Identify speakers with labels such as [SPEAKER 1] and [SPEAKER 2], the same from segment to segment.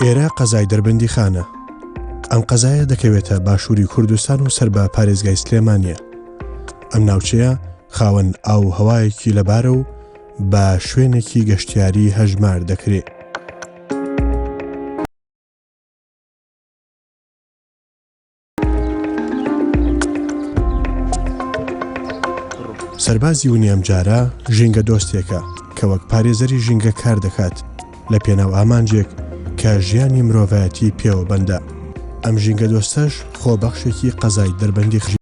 [SPEAKER 1] ئێرە قەزای دەربەندی خانە ئەم قەزایە دەکەوێتە باشووری کوردستان و سەر بە پارێزگای سلێمانە ئەم ناوچەیە خاوەن ئاو هەوایەکی لەبارە و بە شوێنێکی گەشتیاری هەژمار دەکرێت سەربازی ونی ئەمجارە ژینگە دۆستێکە کە وەک پارێزەری ژینگە کار دەکات لە پێناو ئامانجێک کە ژیانی مرۆڤایەتی پێوە بەندە ئەم ژینگە دۆستەش خۆبەخشێکی قەزای دەربەندی خژی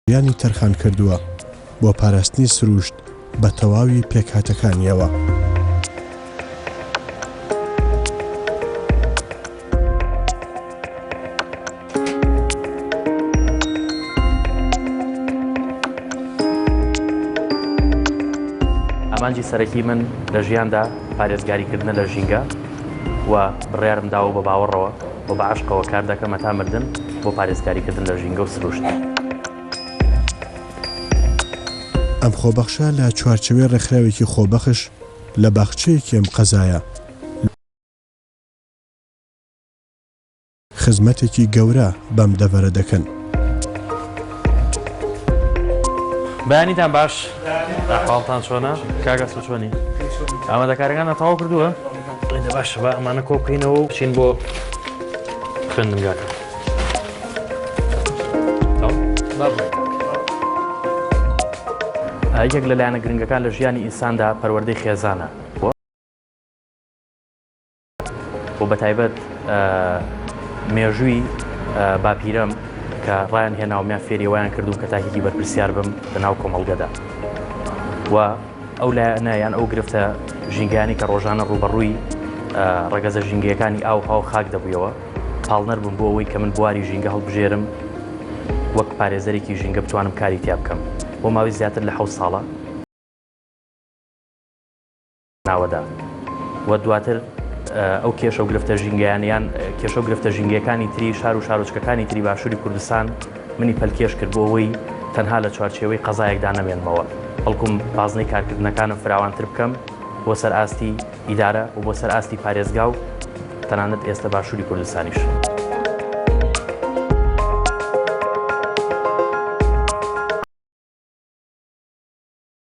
[SPEAKER 1] ژیانی تەرخان کردووە بۆ پاراستنی سرووشت بە تەواوی پێکهاتەکانییەوە.
[SPEAKER 2] ئامانجی سەرەکی من لە ژیاندا پارێزگاریکردنە لە ژینگە و بڕیارم داوە بە باوەڕەوە، و بە عەشقەوە کار دەکەم هەتا مردن بۆ پارێزکاریکردن لە ژینگە و سروشت.
[SPEAKER 1] ئەم خۆبەخشە لە چوارچەوەی ڕێکخراوێکی خۆبەخش لە باخچەیەکی ئەم قەزایە، خزمەتێکی گەورە بەم دەڤەرە دەکەن.
[SPEAKER 2] بەیانیتان باش ئەحواڵتان چۆنە کاک ئەسپ چۆنی؟ ئامادەکاریەکانتان تەواو کردووە؟ ئەیدە باشە با ئەمانە کۆ بکەینەوە و بچین بۆ خوێندنگاکە یەک لە لایەنە گرنگەکان لە ژیانی ئینساندا پەروەردەی خێزانە و بە تایبەت مێژووی باپیرەم کە ڕایان هێناومیان فێریوایان کردوم کە تاکێکی بەرپرسیار بم لە ناو کۆمەڵگەدا و ئەو لایەنە یان ئەو گرفتە ژینگەیانی کە ڕۆژانە ڕووبەڕووی ڕەگەزە ژینگەیەکانی ئاوها و خاک دەبوویەوە پاڵنەر بووم بۆ ئەوەی کە من بواری ژینگە هەڵبژێرم وەک پارێزەرێکی ژینگە بتوانم کاری تیا بکەم بۆ ماوەی زیاتر لە حەوت ساڵە ناوەدا و دواتر ئەو کێشە و گرفتە ژینگەیانیان کێشە و گرفتە ژینگەکانی تری شار و شارۆچکەکانی تری باشووری کوردستان منی پەلکێش کرد بۆ ئەوەی تەنها لە چوارچێوەی قەزایەکدا نەمێنمەوە، بەڵکوم بازنەی کارکردنەکانم فراوانتر بکەم بۆ سەر ئاستی ئیدارە و بۆ سەر ئاستی پارێزگا و تەنانەت ئێستە باشووری کوردستانیش.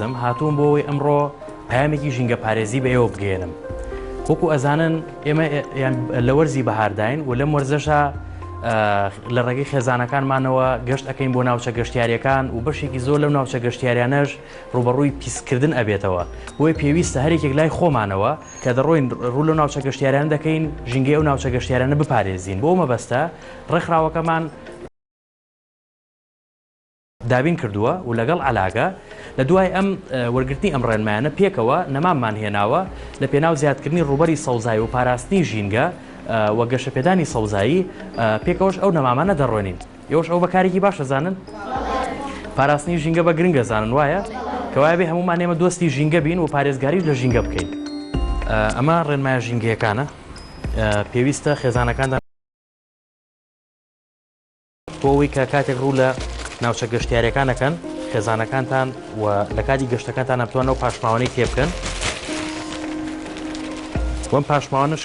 [SPEAKER 2] زم هاتووم بۆ ئەوەی ئەمڕۆ پامێکی ژینگە پارێزی بە ئێوە بگەێنم وەکو ئەزانن ئێمە لە وەرزی بەهارداین و لەم وەرزەشە لە ڕێگەی خێزانەکانمانەوە گەشت ئەەکەین بۆ ناوچە گەشتیارەکان و بەشێکی زۆر لەم ناوچە گەشتیاریانەش ڕوبەڕووی پیسکردن ئەبێتەوە بۆی پێویستە هەرێکێک لای خۆمانەوە کە دەڕۆین ڕوو لە ناوچە گەشتیاران دەکەین ژینگەی ئەو ناوچە گەشتیارانە بپارێزین بۆ مەبەستە ڕێکخراوەکەمان دابین کردووە و لەگەڵ عەلاگە لە دوای ئەم وەرگرتنی ئەم ڕێنمایانە پێکەوە نەماممان هێناوە لە پێناو زیادکردنی ڕووبەری سەوزایی و پاراستنی ژینگە و گەشەپێدانی سەوزایی پێکەوەش ئەو نەمامانە دەڕۆێنین یۆش ئەو بەکارێکی باش دەزانن پاراستنی ژینگە بە گرنگ دەزانن وایە کەوایە بێ هەمومان ئێمە دۆستی ژینگە بین و پارێزگاریش لە ژینگە بکەین ئەمە ڕێنمایە ژینگەیەکانە پێویستە خێزانەکاندا بۆ ئەوەی کە کاتێک ڕوو لە ناوچە گەشتیارەکان دەکەن خێزانەکانتان و لە کاتی گەشتەکانتان ئەتوانەوە پاشماوانەی تێ بکەن وەم پاشماوانش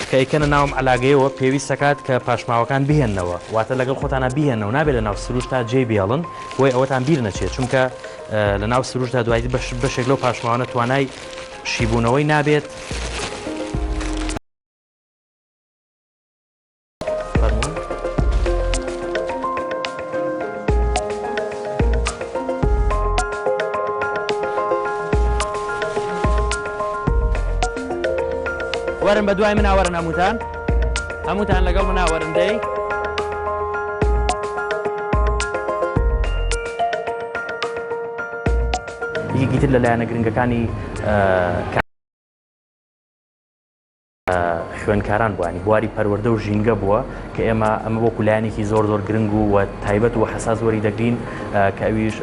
[SPEAKER 2] کە ئەیکەنە ناوم علاگەیەوە پێویست دەکات کە پاشماوەکان بهێنەوە واتە لەگەڵ خۆتانە بهێنەوە نابێت لە ناو سروشتا جێ بێڵن بۆی ئەوەتان بیر نەچێت چونکە لە ناو سروشدا دوای بەشێک لەو پاشماوانە توانای شیبوونەوەی نابێت وەرن بە دوای مناوەرن هەمووتان هەمووتان لەگەڵ مناوەرندەی یەکیتر لەلایەنە گرنگەکانی خوێندکاران بووە ینی بواری پەروەردە و ژینگە بووە کە ئێمە ئەمە وەکو لایەنێکی زۆر زۆر گرنگ و و تایبەت و حساس وەری دەگرین کە ئەویش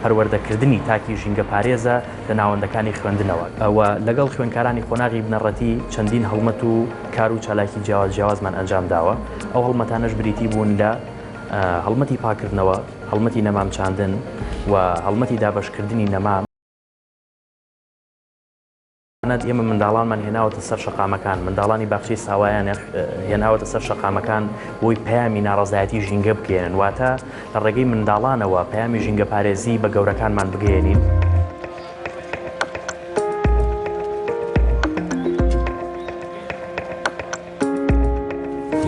[SPEAKER 2] پەروەردەکردنی تاکی ژینگە پارێزە لە ناوەندەکانی خوێندنەوە ئەوە لەگەڵ خوێندکارانی قۆناغی بنەڕەتی چەندین هەڵمەت و کار و چالاکی جیاواز جیاوازمان ئەنجام داوە ئەو هەڵمەتانەش بریتی بوون لە هەڵمەتی پاکردنەوە هەڵمەتی نەمام چاندن و هەڵمەتی دابشکردنی نەمام تەنانەت ئێمە منداڵانمان هێناوەتە سەر شەقامەکان، منداڵانی باخچەی ساوایان هێناوەتە سەر شەقامەکان بۆی پەیامی ناڕەزایەتی ژینگە بگەێنن واتە لە ڕێگەی منداڵانەوە پەیامی ژینگە پارێزی بە گەورەکانمان بگەێنین.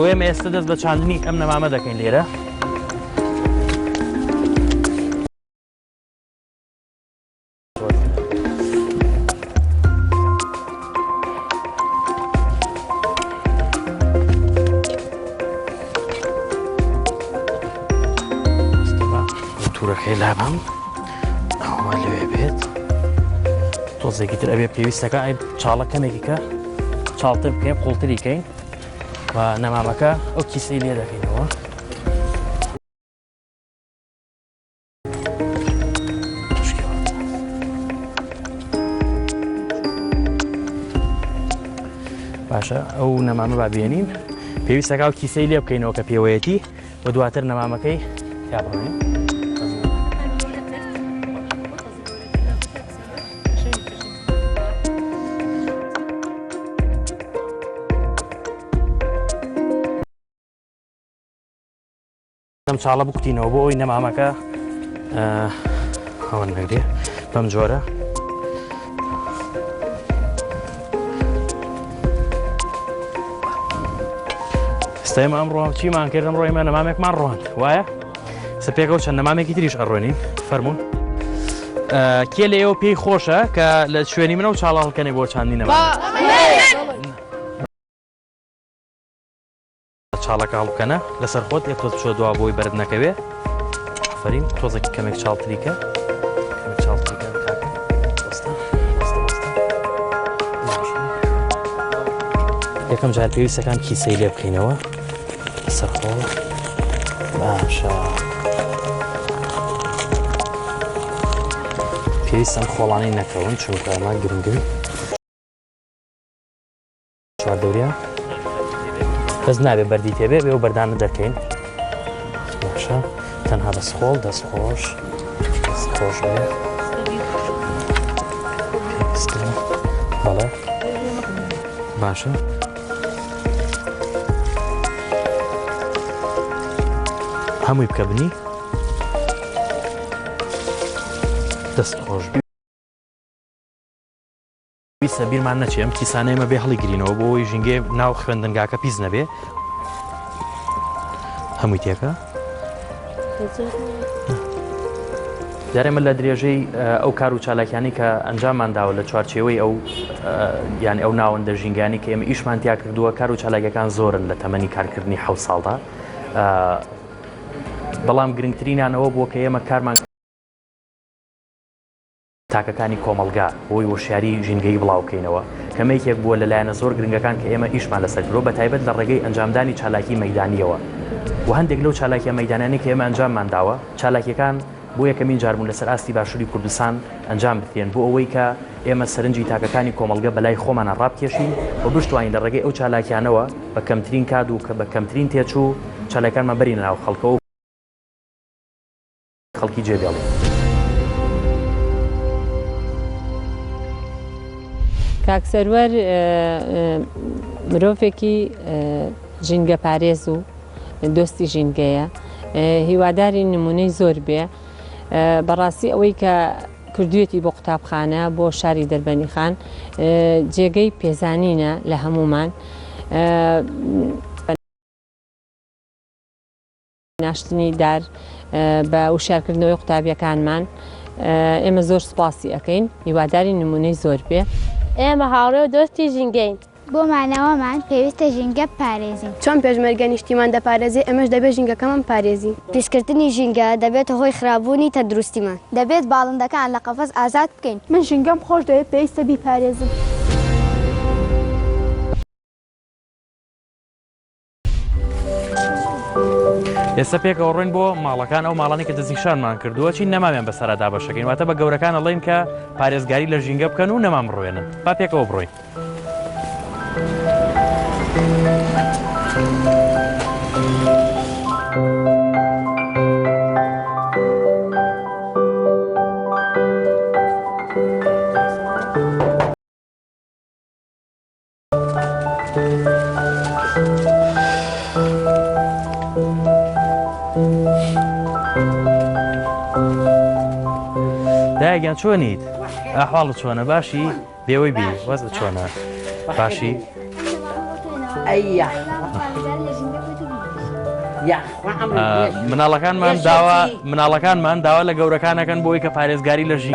[SPEAKER 2] ئێمە ئێستا دەست بە چاندنی ئەم نەمامە دەکەین لێرە. تورەکەی لابم ئەوە لەوێ بێت تۆزێکی تر ئەبێ پێویستەکە ئەی چاڵە کەمێکیکە چاڵتر بکەین قوڵتری کەین و نەمامەکە ئەو کیسەی لێ دەکەینەوە باشە ئەو نەمامە با بێنین پێویستەکە و کیسەی لێ بکەینەوە کە پێوەیەتی و دواتر نەمامەکەی تابڕێن ئەم چاڵە بکوتینەوە بۆ ئەوی نەمامەکە هەوە نەگرێ بەم جۆرە ئێستای مام ڕۆم چیمان کردم ڕۆیمە نەمامێکمان ڕۆند وایە سپێکەوە چەند نەمامێکی تریش ئەڕۆنین فەرمونون کێ لە ئێوە پێی خۆشە کە لە شوێنی منە و چاڵاڵکەێ بۆ چاندی نەما چاڵە کاڵ بکەنە لەسەر خۆت یەک تۆز بچۆ دوا بۆی بەرد نەکەوێ ئەفرین تۆزێکی کەمێک چاڵتریکە چاڵتریکە یەکەم جار پێویستەکان کیسەی لێ بکەینەوە سەرخۆ باشە پێویستم خۆڵانی نەکەون چونکە ئەمە گرنگن چواردەوریا بەس نابێ بەردی تێبێ بێ و بەردانە دەکەین باشە تەنها بە سخۆڵ دەست خۆش خۆش بەڵێ باشە هەمووی بکە بنی دەست خۆش بێ پێویستە بیرمان نەچێ ئەم کیسانەی ئێمە بێ هەڵیگرینەوە بۆ ئەوەی ژینگەی ناو خوێندنگاکە پیس نەبێ هەمووی تێکە جارێ من لە درێژەی ئەو کار و چالاکیانی کە ئەنجاممان داوە لە چوارچێوەی ئەو یان ئەو ناوەندە ژینگانی کە ئێمە ئیشمان تیا کردووە کار و چالاکەکان زۆرن لە تەمەنی کارکردنی حە ساڵدا بەڵام گرنگترینانەوە بۆ کە ئێمە کارمان تاکەکانی کۆمەڵگا بۆی وەشیاری ژینگەیی بڵاو بکەینەوە کە مەیکێک بووە لە لایەنە زۆر گرنگەکان کە ئێمە ئیشمان لەسەر کردووە بە تایبەت لە ڕێگەی ئەنجامدانی چالاکی مەیدانییەوە و هەندێک لەو چالاکیە مەیدانانەی کە ئێمە ئەنجاممان داوە چالاکیەکان بۆ یەکەمین جار بوون لەسەر ئاستی باشوری کوردستان ئەنجام بدرێن بۆ ئەوەی کە ئێمە سەرنجی تاکەکانی کۆمەڵگە بەلای خۆمانە ڕابکێشین و بشتوانین لە ڕێگەی ئەو چالاکیانەوە بە کەمترین کات و کە بە کەمترین تێچوو چالاکانمان بەرینە ناو خەڵکەوە و خەڵکی جێدێڵی.
[SPEAKER 3] کاک سەروەر مرۆڤێکی ژینگە پارێز و دۆستی ژینگەیە هیواداری نمونەی زۆر بێ بەڕاستی ئەوەی کە کردوێتی بۆ قوتابخانە بۆ شاری دەربەنی خان جێگەی پێزانینە لە هەمومان ناشتنی دار بە وشارکردنەوەی قوتابیەکانمان ئێمە زۆر
[SPEAKER 4] سوپاسی
[SPEAKER 3] ئەەکەین هیواداری نمونەی زۆر
[SPEAKER 4] بێ.
[SPEAKER 3] ئێمە
[SPEAKER 4] هاوڕێ
[SPEAKER 3] و دۆستی
[SPEAKER 4] ژینگەین.
[SPEAKER 3] بۆ
[SPEAKER 4] مانەوەمان پێویستە ژینگە بپارێزین. چۆن پێشمەرگە
[SPEAKER 5] نیشتیمان دەپارێزێ ئێمەش دەبێ ژینگەکەمان بپارێزی. پیسکردنی ژینگە
[SPEAKER 6] دەبێتە هۆی خراپبوونی تەندروستیمان. دەبێت باڵندەکان
[SPEAKER 4] لە قەفەس ئازاد بکەین. من ژینگەم خۆش دەوێت
[SPEAKER 5] پێویستە بیپارێزم.
[SPEAKER 2] ئێستا پێکەوە ڕۆین بۆ ماڵەکان ئەو ماڵانی کە دەزیشانمان کردووە چی نەماوێن بەسەرا دابەشەکەین واتە بە گەورەکان ئەڵین کە پارێزگاری لە ژینگە بکەن و نەمام ڕوێنن با پێکەوە بڕۆین. دایگیان چۆنیت ئاحواڵ چۆنە باشی بێوەی بی وەز چۆنە باشی مناڵەکانمان داوا مناڵەکانمان داوا لە گەورەکانەکەن بۆی کە پارێزگاری لە ژی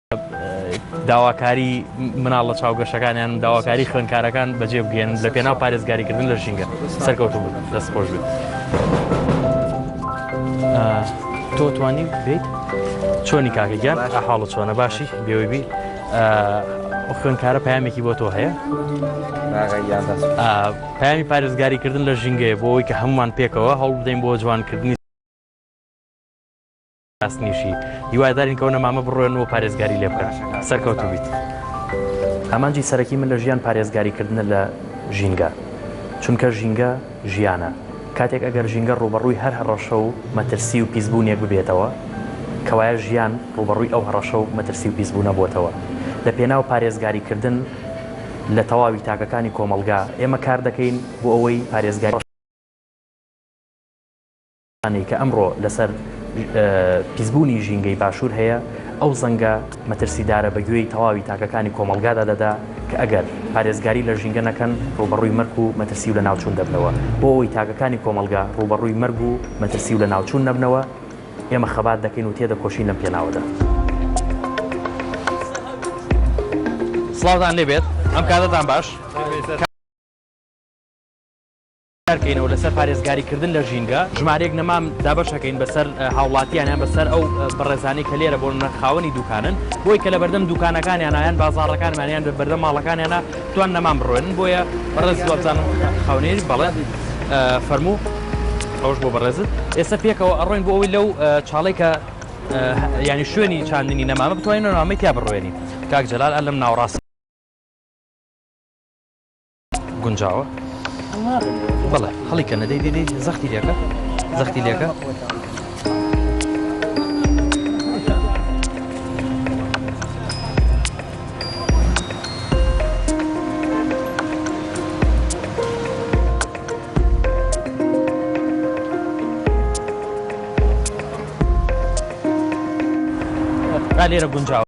[SPEAKER 2] داواکاری مناڵ لە چاو گەشەکانیان و داواکاری خوێنکارەکان بەجێ بگەێن لە پێناو پارێزگاریکردن لە ژینگە سەرکەوتو بوو دەست خۆش بێت تۆ توانی بیت چۆنی کاکەگیان حاڵە چۆنە باشی بێوەی بی خوێنکارە پامێکی بۆ تۆ هەیە پامی پارێزگاریکردن لە ژینگەیە بۆ ئەوی کە هەمومان پێکەوە هەوڵ بدەین بۆ جوانکردنی راستنیشی هیوادارین کە ئەو نەمامە بڕۆێن و پارێزگاری لێ بکەن. سەرکەوتوو بیت. ئامانجی سەرەکی من لە ژیان پارێزگاری کردنە لە ژینگە، چونکە ژینگە ژیانە، کاتێک ئەگەر ژینگە ڕووبەڕووی هەر هەڕەشە و مەترسی و پیسبوونێک ببێتەوە، کەوایە ژیان ڕووبەڕووی ئەو هەڕەشە و مەترسی و پیسبوونە بۆتەوە. لە پێناو پارێزگاری کردن لە تەواوی تاکەکانی کۆمەڵگا ئێمە کار دەکەین بۆ ئەوەی پارێزگاری. ئەوانەی کە ئەمڕۆ لەسەر پیسبوونی ژینگەی باشوور هەیە، ئەو زەنگە مەترسیدارە بە گوێی تەواوی تاکەکانی کۆمەڵگادا دەدا کە ئەگەر پارێزگاری لە ژینگە نەکەن ڕووبەڕووی مەرگ و مەترسی و لەناوچوون دەبنەوە. بۆ ئەوەی تاکەکانی کۆمەڵگا ڕووبەڕووی مەرگ و مەترسی و لەناوچوون نەبنەوە، ئێمە خەبات دەکەین و تێدەکۆشین لەم پێناوەدا. سڵاوتان لێ بێت، ئەم کاتەتان باش. کارکەینەوە لەسەر پارێزگاریکردن لە ژینگە ژمارەیەک نەمام دابەشەکەین بەسەر هاوڵاتیانیان بەسەر ئەو بەڕێزانانی کە لێرە بۆ نە خاوەنی دوکانن بۆی کە لە بەردەم دوکانەکانیانیان بازارڕەکانمانیان بە بەردە ماڵەکانیانە توان نەمان بڕێنن بۆیە بەڕێز وابزانم خاونێری بەڵێ فەرموو ئەوش بۆ بەڕێزت ئێستا پێکەوە ئەڕۆین بۆ ئەوی لەو چاڵی کە ینی شوێنی چاندنی نەمامە بتوانین نامەی تیا بڕوێنی کاک جلال ئە لەم ناوڕاست گونجاوە بەڵێ هەڵی کە نەدەی دێدەی زەختی لەکە زەختی لەکە لێرە گونجاوە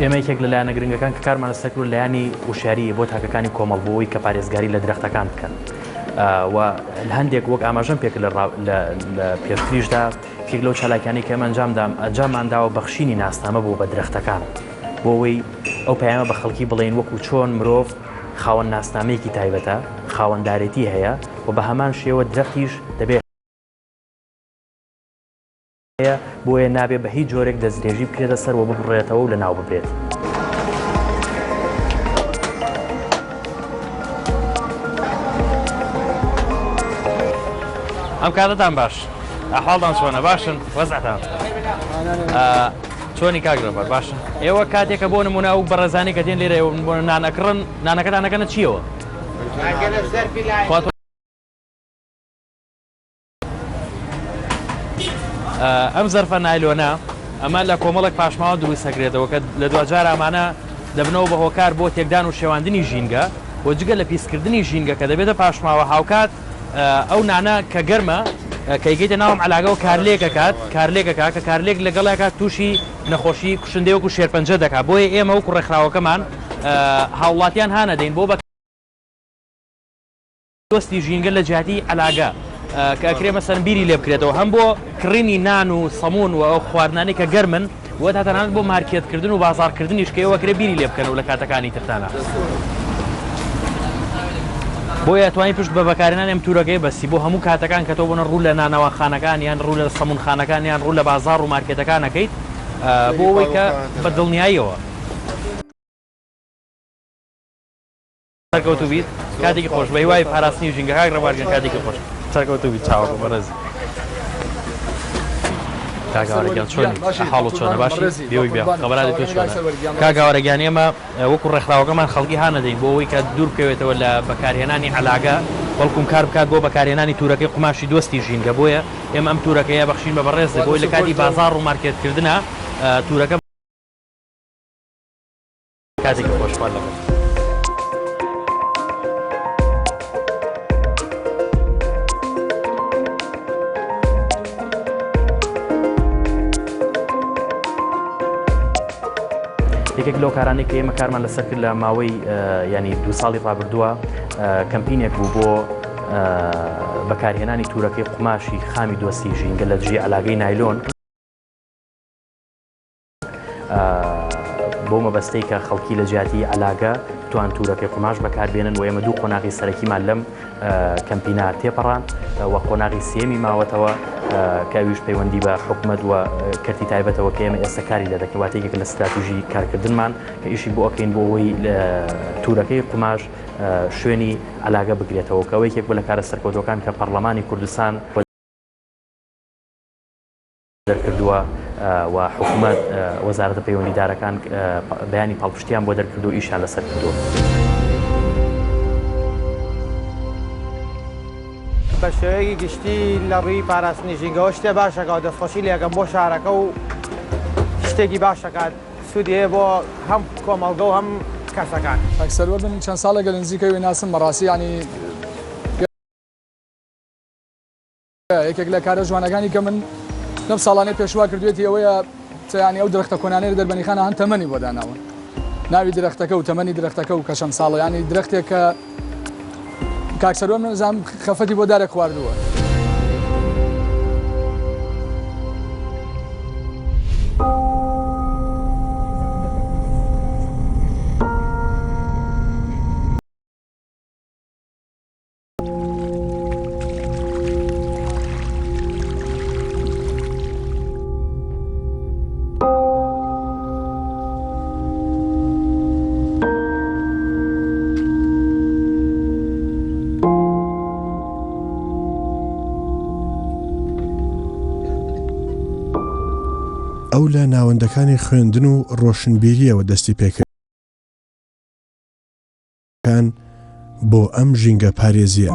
[SPEAKER 2] ئێمە یەکێک لە لایەنە گرنگەکان کە کارمانە سەکر و لایانی وشاریە بۆ تاکەکانی کۆمەڵ بۆەوەی کە پارێزگاری لە درەختەکان بکەن. و هەندێک وەک ئاماژەم پێک لە پێشتریشدا کێک لەو چالاکانی کە ئەمەنجامدام ئەنجاممانداوە بەخشینی ناسنامە بوو بە درەختەکان بۆ ئەوەی ئەو پەیامە بە خەڵکی بڵین وەکو چۆن مرۆڤ خاوەن ناسنامەیەکی تایبەتە خاوەندارێتی هەیە و بە هەمان شێوە درەختیش دەبێت هەیە، بۆیە نابێت بە هیچ جۆرێک دەستدرێژی بکرێتە سەر و ببڕێتەوە و لەناو ببرێت. ئەم کاتەتان باش ئەحواڵتان چۆنە باشن وەزعتان چۆنی کاک ڕێبەر باشن ئێوە کاتێکە بۆ نمونە ئەو بەڕێزانی کە دێن لێرە بۆ نانەکڕن نانەکەتان نەکەنە چیەوە ئەم زەرفە نایلۆنە ئەمە لە کۆمەڵێک پاشماوە دروست هەکرێتەوە کە لە دواجار ئامانە دەبنەوە بە هۆکار بۆ تێکدان و شێواندنی ژینگە و جگە لە پیسکردنی ژینگە کە دەبێتە پاشماوە هاوکات ئەو نانە کە گەرمە کەیگەیتە ناوم علاگەەوە کارلێکەکات کارلێکەکە کە کارلێک لەگەڵێکە تووشی نەخۆشی کوشندەوەکو شێرپەنجە دەکات بۆیە ئێمە وکو ڕێکخراوەکەمان هاوڵاتیان هاانەدەین بۆ بە دۆستی ژینگە لە جیاتی عەلاگە کە ئەکرێ مەسەن بیری لێ بکرێتەوە هەم بۆ کڕینی نان و سەمون و ئەو خواردنانی کە گەرمن و تا تەنانەت بۆ مارکێتکردن و بازارکردنیش کە ئێوەکرێ بیری لێ بکەن و لە کاتەکانی ترتانە بۆیە توانی پشت بە بەکارێنانی ئەم تورەکەی بەسی بۆ هەموو کاتەکان کە تۆ بنە ڕوو لە نانەواخانەکان یان ڕوو لە سەمونخانەکان یان ڕوو لە بازار و مارکێتەکانەکەیت بۆ ئەوەی کە بە دڵنیاییەوە سەرکەوتوو بیت کاتێکی خۆش بە هیوای پاراستنی ژینگە کاک ڕەبار گیان کاتێکی خۆش سەرکەوتوو بیت چاوەڕێ بەڕێزی کاگاوارەگیان چۆنی حاڵ و چۆنە باشی بێوەی بیا خەبەرانی تۆ چۆنە کاگاوارەگیان ئێمە وەکو ڕێکخراوەکەمان خەڵکی هانەدەین بۆ ئەوەی کە دوور بکەوێتەوە لە بەکارهێنانی علاگە بەڵکم کار بکات بۆ بەکارهێنانی تورەکەی قوماشی دۆستی ژینگە بۆیە ئێمە ئەم تورەکەیە بەخشین بە بەڕێز بۆی لە کاتی بازار و مارکێتکردە تورەکە کاتێکی خۆش خوارد لەگەڵ. یەکێک لەو کارانەی کە ئێمە کارمان لەسەر کرد لە ماوەی ینی دو ساڵی ڕابردووە کەمپینێک بوو بۆ بەکارهێنانی تورەکەی قوماشی خامی دۆستی ژینگە لە دژی علاگەی نایلۆن بۆ مەبەستەی کە خەڵکی لە جیاتی ئەلاگە توان تورەکەی قوماش بەکاربێنن و ئێمە دوو قۆناغی سەرەکیمان لەم کەمپینا تێپەڕان و قۆناغی سێمی ماوەتەوە کەویش پەیوەندی بە حکومت و کەرتی تایبەتەوە کە ئێمە ئێستا کاری لە دەکەواتێکێک لە ستراتژی کارکردنمان کە ئیشی بۆ ئەکەین بۆ ئەوەی تورەکەی قوماش شوێنی ئەلاگە بگرێتەوە کەەوە یەکێک بە لە کارە سەرکەوتەکان کە پەرلەمانی کوردستان دەرکردووە و حکومەت وەزارەتە پەیوەندیدارەکان بەیانی پاڵپشتیان بۆ دەرکردو ئیشیان لەسەر کردووە.
[SPEAKER 7] بە شێوەیەکی گشتی لە ڕووی پاراستنی ژینگەوە شتێ باشەکەەوە دەستخۆشی لەکەم بۆ شارەکە و شتێکی باشەکات سوودەیە بۆ هەم کۆمەڵگە و هەم کەسەکان ئەکسەروە من
[SPEAKER 8] چەند ساڵێک لە نزیکەوەی ناسم بەڕاستی ینی یەکێک لە کارە جوانەکانی کە من لەم ساڵانەی پێشوا کردوێتی ئەوەیە چیانی ئەو درختە کۆنانەی دەربەنیخانە هەن تەمەنی بۆ داناون ناوی درختەکە و تەمەنی درختەکە و کەشەم ساڵیانی درختێک کە کاکسەرۆ منزانام خەفەتی بۆ دارێک خواردووە.
[SPEAKER 1] ئەو لە ناوەندەکانی خوێندن و ڕۆشنبیرییەوە دەستی پێکرد. کان بۆ ئەم ژینگە پارێزیە.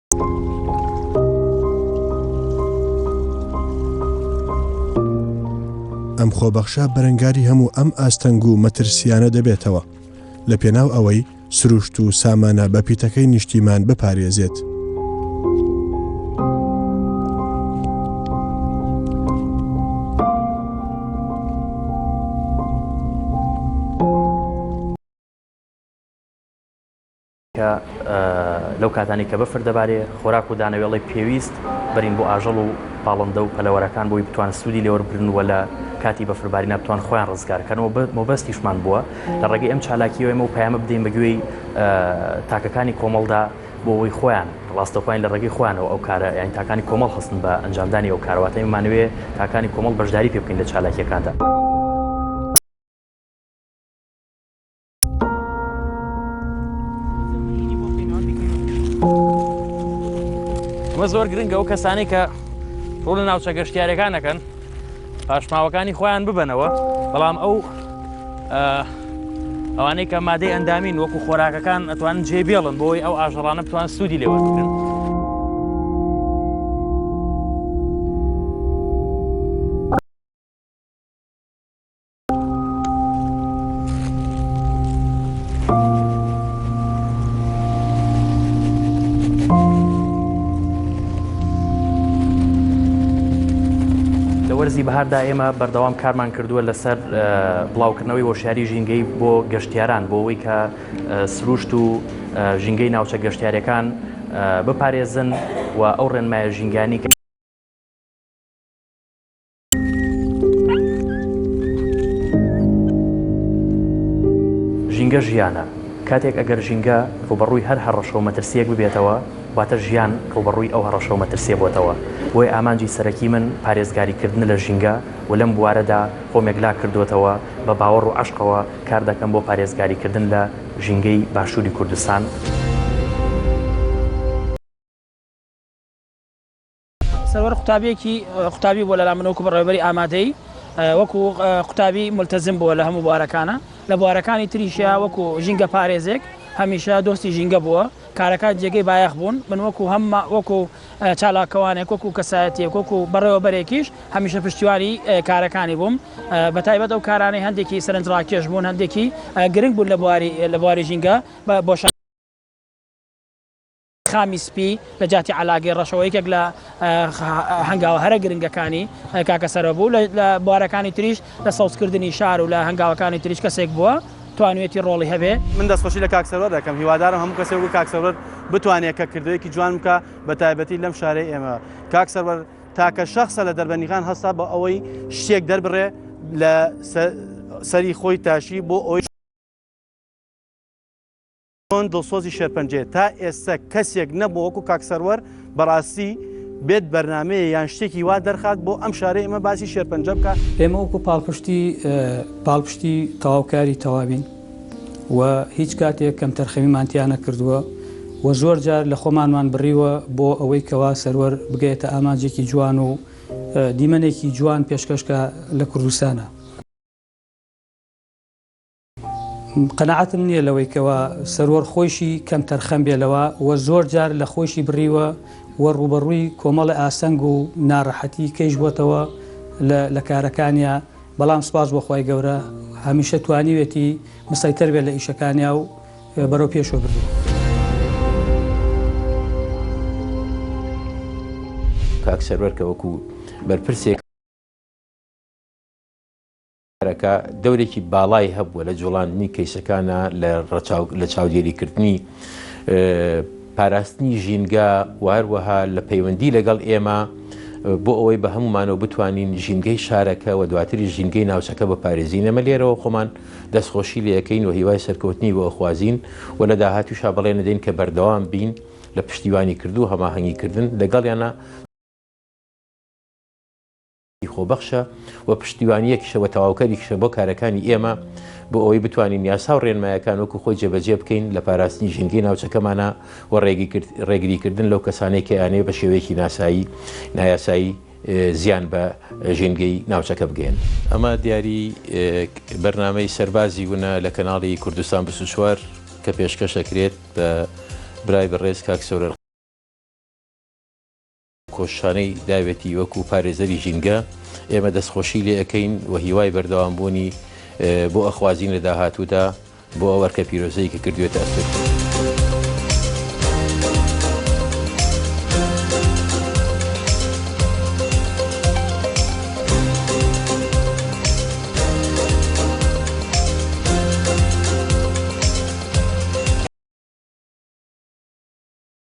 [SPEAKER 1] ئەم خۆبەخشە بەرەنگاری هەموو ئەم ئاستەنگ و مەترسیانە دەبێتەوە لە پێناو ئەوەی سروشت و سامانە بە پیتەکەی نیشتیمان بپارێزێت.
[SPEAKER 2] کە لەو کاتانەی کە بەفر دەبارێ خۆراک و دانەوێڵەی پێویست بەرین بۆ ئاژەڵ و پاڵندە و پەلەوەرەکان بۆی بتوان سوودی لێوەربگرن و لە کاتی بەفربارینا بتوان خۆیان ڕزگار کەن و مەبەستیشمان بووە لە ڕێگەی ئەم چالاکیەوە ئێمە و پەیامە بدەین بە گوێی تاکەکانی کۆمەڵدا بۆ ئەوەی خۆیان ڕاستەوخۆیان لە ڕێگەی خۆیانەوە ئەو کارە یان تاکانی کۆمەڵ هەستن بە ئەنجامدانی ئەو کارواتەی مانوێ تاکانی کۆمەڵ بەشداری پێ بکەین لە چالاکیەکاندا. وە زۆر گرنگە ئەو کەسانی کە ڕوو لە ناوچە گەشتیارەکان نەکەن پاشماوەکانی خۆیان ببنەوە بەڵام ئەو ئەوانەی کە مادەی ئەندامین وەکو خۆراکەکان ئەتوان جێ بێڵن بۆی ئەو ئاژەڵانە بتوان سوودی لێوە بکرن. وەرزی بەهاردا ئێمە بەردەوام کارمان کردووە لەسەر بڵاوکردنەوەی هۆشیاری ژینگەی بۆ گەشتیاران بۆ ئەوەی کە سروشت و ژینگەی ناوچە گەشتیارەکان بپارێزن و ئەو ڕێنمایە ژینگانی کە ژینگە ژیانە، کاتێک ئەگەر ژینگە ڕووبەڕووی هەر هەڕەشە و مەترسییەک ببێتەوە، واتە ژیان ڕووبەڕووی ئەو هەڕەشە و مەترسییە بۆتەوە. بۆیە ئامانجی سەرەکی من پارێزگاریکردنە لە ژینگە و لەم بوارەدا خۆم یەکلا کردووەتەوە، بە باوەڕ و عەشقەوە کار دەکەم بۆ پارێزگاریکردن لە ژینگەی باشووری کوردستان.
[SPEAKER 9] سەروەر قوتابیەکی قوتابی بۆ لەلا منۆک بە ڕێبەری ئامادەی وەکو قوتابی ملتەزم بووە لە هەموو بوارەکانە لە بوارەکانی تریشیا وەکو ژینگە پارێزێک هەمیشە دۆستی ژینگە بووە کارەکە جێگەی بایەخ بوون من وەکو هەم وەکو چالاکەوانێک وەکو کەسایەتێک وەکو بەڕێوەبەرێکیش هەمیشە پشتیوانی کارەکانی بووم بە تایبەت ئەو کارانەی هەندێکی سەرنجڕاکێش بوون هەندێکی گرنگ بوون لە بواری لە بواری ژینگە بۆشان خامی سپی لە جیاتی عەلاگەی ڕەشەوە یەکێک لە هەنگاوە هەرە گرنگەکانی کاکە سەرۆ بوو لە بوارەکانی تریش لە سەوزکردنی شار و لە هەنگاوەکانی تریش کەسێک بووە توانوێتی ڕۆڵی هەبێ. من دەستخۆشی لە کاک
[SPEAKER 10] سەروەر دەکەم، هیوادارم هەموو کەسێک وەک کاک سەروەر بتوانێ کە کردەیەکی جوان بکا بە تایبەتی لەم شارەی ئێمە. کاک سەروەر تاکە شەخسە لە دەربەندیخان هەستا بۆ ئەوەی شتێک دەربڕێ لە سەری خۆی تاشی بۆ ئەوەی چۆن دڵسۆزی شێرپەنجەیە تا ئێستە کەسێک نەبوو وەکو کاک سەروەر بەڕاستی بێت بەرنامەیە یان شتێکی وا دەرخات بۆ ئەم شارەی ئمە باسی شێرپەنجە بکە. ئێمە وەکو پاڵپشتی
[SPEAKER 11] پاڵپشتی تەواوکاری تەواوین و هیچ کاتێک کەمتەرخەمیمان تیا نەکردووە و زۆر جار لە خۆمانمان بڕیوە بۆ ئەوەی کەوا سەروەر بگەێتە ئامانجێکی جوان و دیمەنێکی جوان پێشکەشکە لە کوردستانە. قەناعەتم نییە لەوەی کەوا سەروەر خۆیشی کەمتەرخەم بێ لەوە و زۆر جار لە خۆشی بڕیوە و ڕوبەڕووی کۆمەڵی ئاستەنگ و ناڕەحەتی کەیش بۆتەوە لە کارەکانیا بەڵام سپاس بۆخوای گەورە هەمیشە توانیوێتی مسەیتەر بێت لە ئیشەکانیا و بەرەو پێشوە بردووە.
[SPEAKER 12] کاک سەروەر کە وەکو بەرپرسێک کارەکە دەورێکی باڵای هەبووە لە جوڵاندنی کەیسەکانا لە ڕەچاو لە چاودێری کردنی پاراستنی ژینگە و هەروەها لە پەیوەندی لەگەڵ ئێمە بۆ ئەوەی بە هەمومانەوە بتوانین ژینگەی شارەکە و دواتری ژینگەی ناوچەکە بە پارێزی نەمە لێرەوە خۆمان دەستخۆشی لەکەین و هیوای سەرکەوتنی بۆ ئەخوازیین و لە داهاتوشا بەڵێ نەدەین کە بەردەوام بین لە پشتیوانی کردو هەماهەنگی کردن لەگەڵیانە ی خۆبەخشە و پشتیوانییەکیشە و تەواوکەریشە بۆ کارەکانی ئێمە بۆ ئەوەی بتوانین یاسا و ڕێنمایەکان وەکو خۆی جێبەجێ بکەین لە پاراستنی ژینگەی ناوچەکەمانا و ڕێگریکردن لەو کەسانەی کە ئەیانەوێت بە شێوەیەکی ناسایی نایاسایی زیان بە ژینگەی ناوچەکە بگەیەن. ئەمە دیاری بەرنامەی سەربازی ونە لە کەناڵی کوردستان بیست و چوار کە پێشکەش ئەکرێت بە برای بەڕێز کاک سۆران. کۆششانەی داوێتی وەکو پارێزەری ژینگە، ئێمە دەستخۆشی لێ ئەکەین و هیوای بەردەوام بوونی بۆ ئەخوازین لە داهاتوودا بۆ ئەو ئەرکە پیرۆزەی کە کردوێتە ئەستۆی.